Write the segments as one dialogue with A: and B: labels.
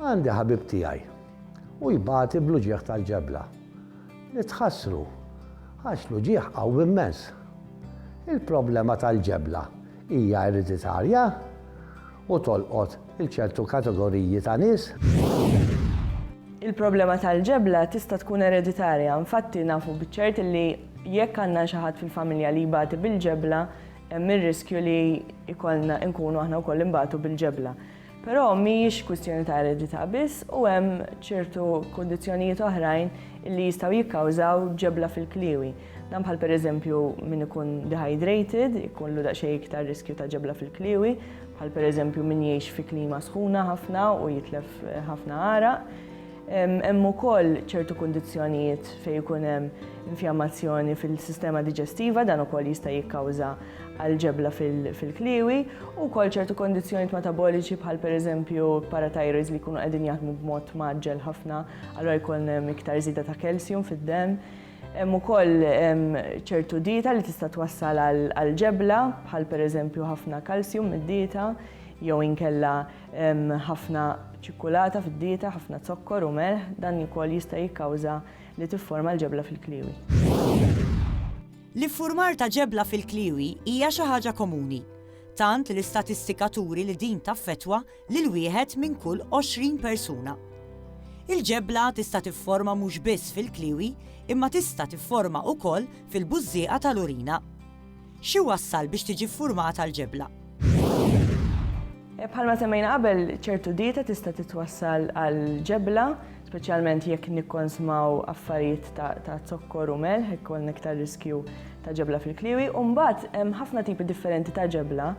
A: Għandi ħabib tiegħi, u jbati bl-uġigħ tal-ġebla. Nitħassru, għax l-uġigħ qawwi immens. Il-problema tal-ġebla hija ereditarja u tolqot lil ċertu kategoriji ta' nies? Il-problema tal-ġebla tista' tkun ereditarja, infatti nafu biċ-ċert li jekk għandna xi ħadd fil-familja li jbati bil-ġebla, hemm ir-riskju li jkollna nkunu aħna wkoll inbatu bil-ġebla. Però mhijiex kwistjoni ta' eredità biss u hemm ċertu kundizzjonijiet oħrajn li jistgħu jikkawżaw ġebla fil-kliewi. Dan bħal pereżempju min ikun dehydrated, ikunlu daqsxejn iktar riskju ta' ġebla fil-kliewi, bħal pereżempju min jgħix fi klima sħuna ħafna u jitlef ħafna għaraq. Hemm ukoll ċertu kundizzjonijiet fejn ikun hemm infjammazzjoni fil-sistema diġestiva, dan ukoll jista' jikkawża għall-ġebla fil-kliewi, u wkoll ċertu kondizzjonijiet metaboliċi bħal pereżempju paratajroids li jkunu qegħdin jaħdmu b'mod maġġel ħafna, allura jkun hemm iktar żieda ta' kalsjum fid-demm. Hemm ukoll ċertu dieta li tista' twassal għall-ġebla bħal pereżempju ħafna kalsjum mid-dieta jew inkella Hemm ħafna ċikkulata fid-dieta, ħafna zokkor u melħ, dan ukoll jista' jikkawża li tifforma l-ġebla fil-kliewi. L-iffurmar ta' ġebla fil-kliewi hija xi ħaġa komuni, tant li l-istatistika turi li din taffettwa lil wieħed minn kull 20 persuna. Il-ġebla tista' tifforma mhux biss fil-kliewi imma tista' tifforma ukoll fil-bużżieqa tal-urina. X'iwassal biex tiġi ffurmata l-ġebla? Bħalma semmejna qabel, ċertu dieta tista' titwassal għal ġebla, speċjalment jekk nikkonsmaw affarijiet ta' zokkor u melħ, hekk għandna iktar riskju ta' ġebla fil-kliwi, u mbagħad hemm ħafna tipi differenti ta' ġebla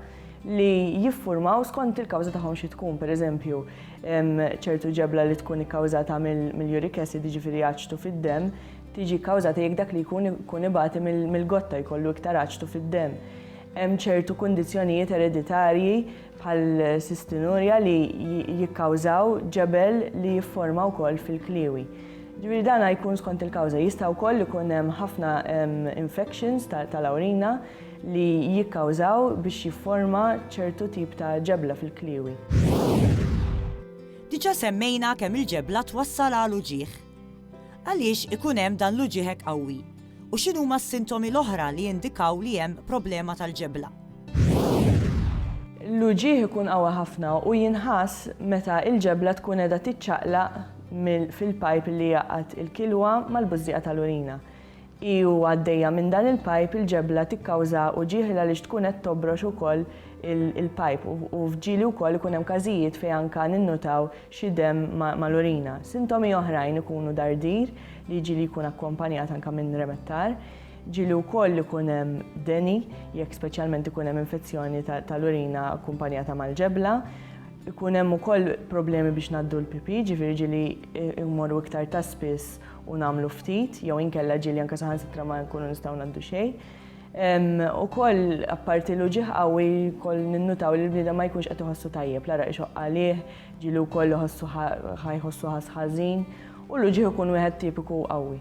A: li jiffurmaw skont il-kawża tagħhom xi tkun, pereżempju, ċertu ġebla li tkun ikkawżata mill-uric acid, jiġifieri aċtu fid-demm, tiġi kkawżata jekk dak li jkun ikun ibati mill-gotta jkollu iktar aċtu fid-demm. Hemm ċertu kundizzjonijiet ereditarji bħal sistinurja li jikkawżaw ġebel li jifforma wkoll fil-kliewi. Ġifieri dan jkun skont il-kawża. Jista' wkoll ikun hemm ħafna infections tal-awrina li jikkawżaw biex jifforma ċertu tip ta' ġebla fil-kliewi. Diġà semmejna kemm il-ġebla twassal għal uġigħ. Għaliex ikun hemm dan l-uġigħ hekk qawwi, u x'inhuma s-sintomi l-oħra li jindikaw li hemm problema tal-ġebla? L-uġigħ ikun qawwi ħafna u jinħass meta l-ġebla tkun qiegħda tiċċaqlaq fil-pajp li jgħaqqad il-kilwa mal-bużżieqa tal-urina. Hi u għaddejja minn dan il-pajp il-ġebla tikkawża uġigħ għaliex tkun qed tobrox ukoll il-pajp u f'ġieli wkoll ikun hemm każijiet fejn anke ninnutaw xi demm mal-urina. Sintomi oħrajn ikunu dardir li jiġi li jkun akkompanjat anke minn remettar. Ġieli wkoll ikun hemm deni jekk speċjalment ikun hemm infezzjoni tal-urina akkumpanjata mal-ġebla. Ikun hemm ukoll problemi biex ngħaddu l-pipì, ġifieri ġieli jmorru iktar ta' spiss u nagħmlu ftit jew inkella ġieli anke saħansitra ma nkunu nistgħu ngħaddu xejn. U koll, apparti l ġieħ qawwi, koll ninnutaw li l-bnida ma jkunx qed iħossu tajjeb, l-ara ixoq għalih, ġilu koll iħossu ħajħossu ħażin, u l ġieħ ikun wieħed tipiku qawwi.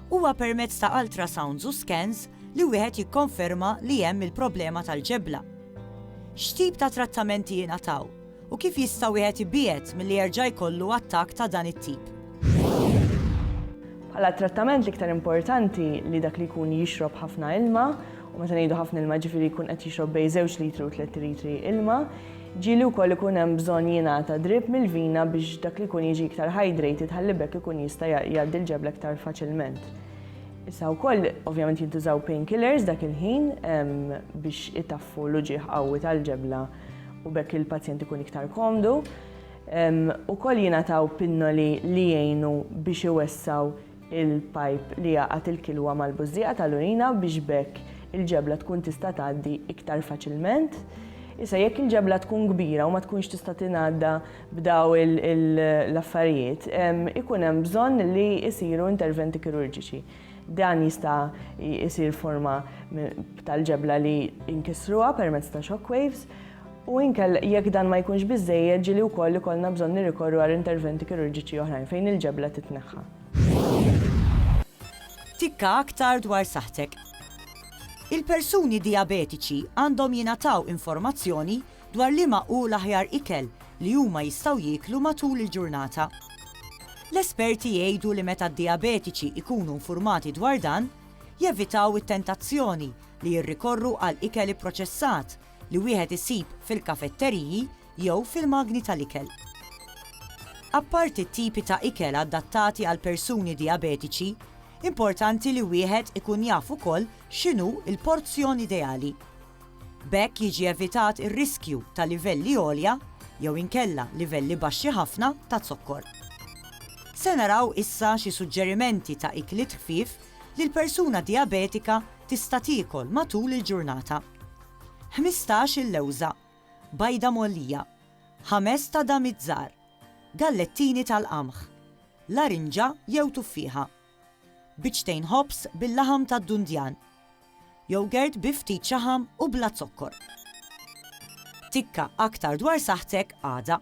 A: Huwa permezz ta' ultrasounds u scans li wieħed jikkonferma li hemm il-problema tal-ġebla. X'tip ta' trattamenti jingħataw? U kif jista' wieħed ibiegħed milli jerġa' jkollu attakk ta' dan it-tip? Bħala t-trattament l-iktar importanti li dak li jkun jixrob ħafna ilma, u meta ngħidu ħafna ilma ġifieri jkun qed jixrob bejn żewġ litri u tliet litri ilma, ġieli wkoll ikun hemm bżonn jingħata drip mill-vina biex dak li jkun jiġi iktar hydrated ħalli b'hekk ikun jista' jgħaddi l-ġebla iktar faċilment. Issa wkoll ovvjament jintużaw painkillers dak il-ħin biex itaffu l-uġigħ qawwi tal-ġebla. u bekk il-pazjent ikun iktar komdu. Ukoll jingħataw pinnoli li jgħinu biex iwessaw il-pajp li jaqat il-kilwa mal-bużżieqa tal-urina biex bekk il-ġebla tkun tista' tgħaddi iktar faċilment. Issa jekk il-ġebla tkun kbira u ma tkunx tista' tingħadda b'daw l-affarijiet, ikun hemm bżonn li jsiru interventi kirurġiċi. Dan jista' jsir forma tal-ġebla li inkissruha permezz ta' shock waves u inkell jekk dan ma jkunx biżejjed ġili wkoll ikollna bżonn nirrikorru għal interventi kirurġiċi oħrajn fejn il-ġebla titneħħa. Tikka aktar dwar saħħtek. Il-persuni dijabetiċi għandhom jingħataw informazzjoni dwar liema hu l-aħjar ikel li huma jistgħu jieklu matul il-ġurnata. L-esperti jgħidu li meta d-dijabetiċi jkunu infurmati dwar dan, jevitaw it-tentazzjoni li jirrikorru għal ikel ipproċessat li wieħed isib fil-kafetteriji jew fil-magni tal-ikel. Apparti t-tipi ta' ikel adattati għal persuni dijabetiċi, importanti li wieħed ikun jaf ukoll x'inhu l-porzjon ideali. B'hekk jiġi evitat ir-riskju ta' livelli għolja jew inkella livelli baxxi ħafna ta' zokkor. Se naraw issa xi suġġerimenti ta' ikliet ħfief li l-persuna dijabetika tista' tiekol matul il-ġurnata. Ħmistax il-lewża, bajda mgħollija, ħames ta' damiet żgħar, gallettini tal-qamħ, larinġa jew tuffieħa. Biċċtejn ħobż bil-laħam tad-dundjan. Yogurt bi ftit xaħam u bla zokkor. Tikka aktar dwar saħħtek għada.